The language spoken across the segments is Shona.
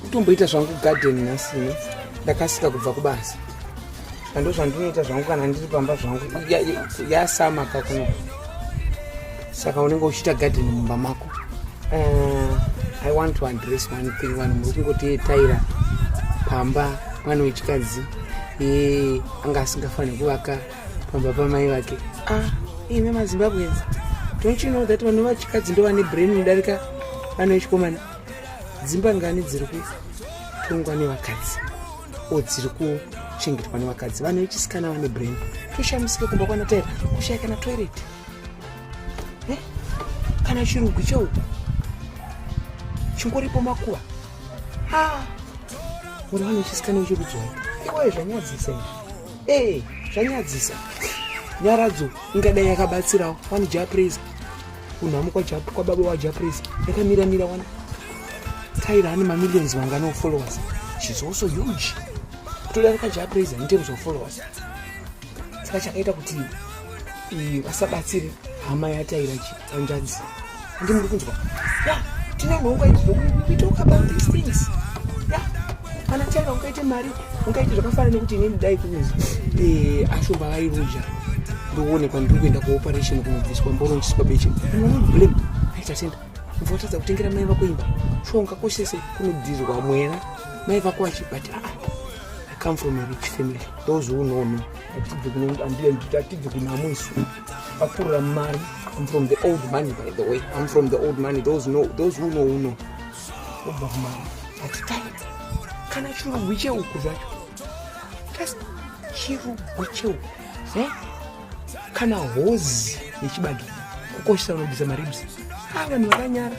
kutomboita zvangu garden nhasi ne ndakasika kubva kubasa ando zvandinoita zvangu kana ndiri pamba zvangu yasama ya, ya kakuno saka unenge uchiita garden mumba mako uh, i want to address one thing vanhu muri kungotiyetaira pamba mwana wechikadzi e, anga asingafaniri kuvaka pamba pamai vake ah, imi mazimbabwe don't you know that vanhu vachikadzi ndovane brain mudarika vanoichikomana dzimba ngani dziri kutongwa nevakadzi o dziri kuchengetwa nevakadzi vanhu vechisikana vane brain toshamisike kumba kwana taira kushaya kana toilet eh? kana chirugwi chou chingoripo makuva ah! uri vanhu vechisikana vechikudzora iwoye zvanyadzisa izvi ee zvanyadzisa nyaradzo ingadai yakabatsirawo vanhu japraiser kunhamu kwababa wajapris yakamira mira wani tyra ane mamillions vangani ofollowers shes also huge kutodarika japris in terms of followers saka chakaita kuti vasabatsire hama yataira chi anjanzi andi muri kunzwa ya tine nhonga idzo we talk about these things ya kana tyra ukaite mari ungaiti zvakafana nekuti inini dai kunzi eh, ashumba vairoja ndoonekwa ndiri kuenda kuoperation kunobviswa mborongchiswa beche blame tatenda mva watadza kutengera mai vako imba shuwa ungakoshese kunodhirwa mwena mai vako vachi but aa ah, i come from a rich family those who know me atibve kunamo isu akurira mari im from the old money by the way im from the old money those, know, those who know who know obomana hatitaina kana chirugwi cheuku zvacho just chirugwi cheuku eh? kana hozi yechibage kukoshesa unobvisa maribs a vanhu vakanyara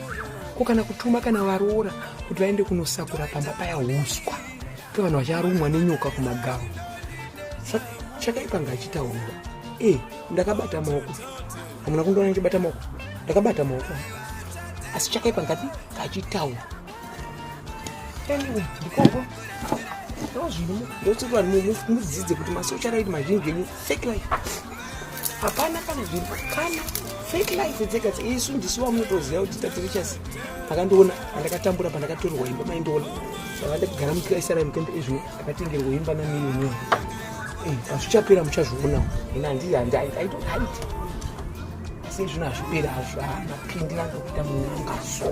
ko kana kutuma kana varoora kuti vaende kunosakura pamba paya uswa to vanhu vacharumwa nenyoka kumagamu chakaipa ngaachitaurwa e eh, ndakabata maoko hamuna kundiona ndichibata maoko ndakabata maoko asi chakaipa ngati kachitaura anyway ndikoko ndozvino ndoti vanhu mudzidze kuti masocial aid mazhinji enyu fake life hapana kana zvinhu kana fake life dzega isu ndisu vamunotoziva kuti tatirichas akandiona andakatambura pandakatorerwa imba maindiona saka ndakagara mukira isaraimukende ezvino akatengerwa imba namiyoni eh, azvichapera muchazvionawo ina handizi handiaitoaiti asi zvino hazvipera hazvamapindi ah, angakuita munanga so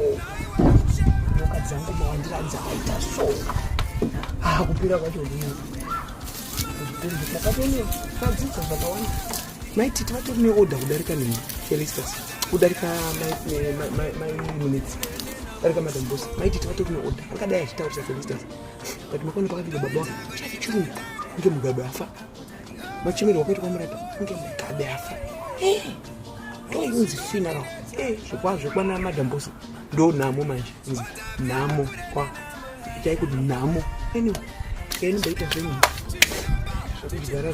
nyoka dzangu mawandira dzakaita so akupera ah, kwacho ndii ndakatone tadzidza zvakawanda maiti tivatori neoda kudarika nini felistas kudarika mainunitsi kudarika madambosi maiti tivatori neoda angadai achitaurisa felistas but makona pakapinda baba wako chati chirungu kunge mugabe afa machemero wakaita kwamurata kunge mugabe afa ndoyunzi funeral zvokwazvo kwana madambosa ndo nhamo manje nzi nhamo kwa chaikuti nhamo anyway kaini mbaita zvenyu zvakuzara